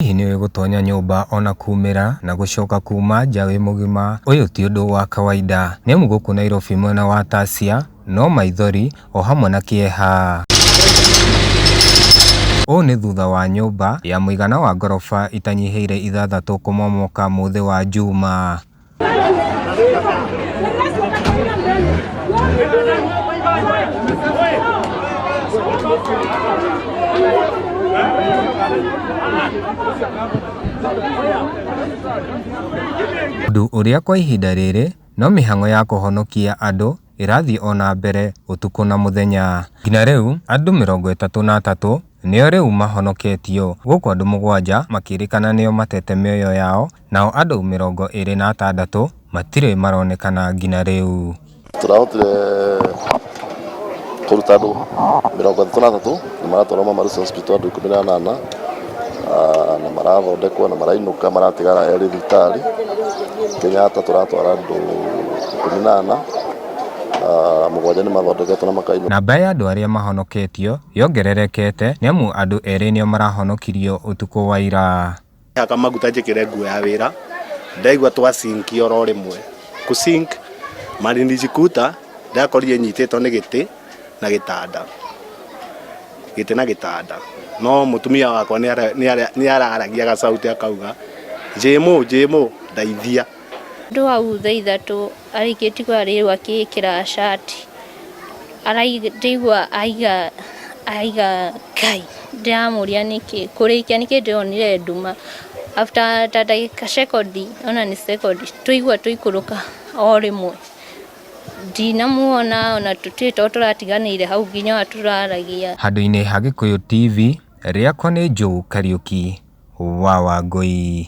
Hihi nĩ ũĩ gũtonya nyũmba o na kuumĩra na gũcoka kuuma nja wĩ mũgima? Ũyũ ti ũndũ wa kawaida, nĩ amu gũkũ Nairobi mwena wa Tasia no maithori o hamwe na kĩeha. Ũũ nĩ thutha wa nyũmba ya mũigana wa ngoroba itanyihĩire ithathatũ kũmomoka mũthĩ wa Juma. Ũndũ ũrĩa kwa ihinda rĩrĩ no mĩhang'o ya kũhonokia andũ ĩrathiĩ o na mbere ũtukũ na mũthenya. Nginya rĩu andũ mĩrongo ĩtatũ na atatũ nĩo rĩu mahonoketio, gũkũ andũ mũgwanja makĩrĩkana nĩo matete mĩoyo yao, nao andũ mĩrongo ĩrĩ na atandatũ matirĩ maronekana nginya rĩu. Tũrahotire kũruta andũ mĩrongo ĩtatũ na atatũ na maratwarwo Mama Lucy Hospital andũ ikũmi na anana. Ah, na marathondekwo na marainũka maratigara erĩ thibitarĩ kenyatta tũratwara andũ ikũmi na ana Ah, mũgwanja nĩ mathondeketwo na makainũka Namba ya andũ arĩa mahonoketio yongererekete nĩamu andũ erĩ nĩo marahonokirio ũtukũ wa ira. Haka maguta njĩkĩre nguo ya wĩra ndaigua twa sink oro rĩmwe kũ sink malinijikuta ndakorire nyitĩtwo nĩ gĩtĩ na gĩtanda gĩtĩ na gĩtanda no mũtumia wakwa nĩ ara- nĩ ara- nĩ araragia gacauti akauga njĩmũ njĩmũ ndaithia Andũ hau thaa ithatũ arĩkĩti kwa rĩu akĩĩkĩra shati Arai- ndĩigua aiga aiga kai ndĩramũria nĩkĩ kũrĩkia nĩkĩ ndĩronire nduma after ta ndagĩka sekondi ona nĩ sekondi tũigua tũikũrũka o rĩmwe Ndinamuona ona tũtirĩ to tũratiganĩire hau nginya ona tũraragia. Handũ-inĩ ha Gĩkũyũ TV, rĩakwa nĩ Joe Kariuki wa Wangũi.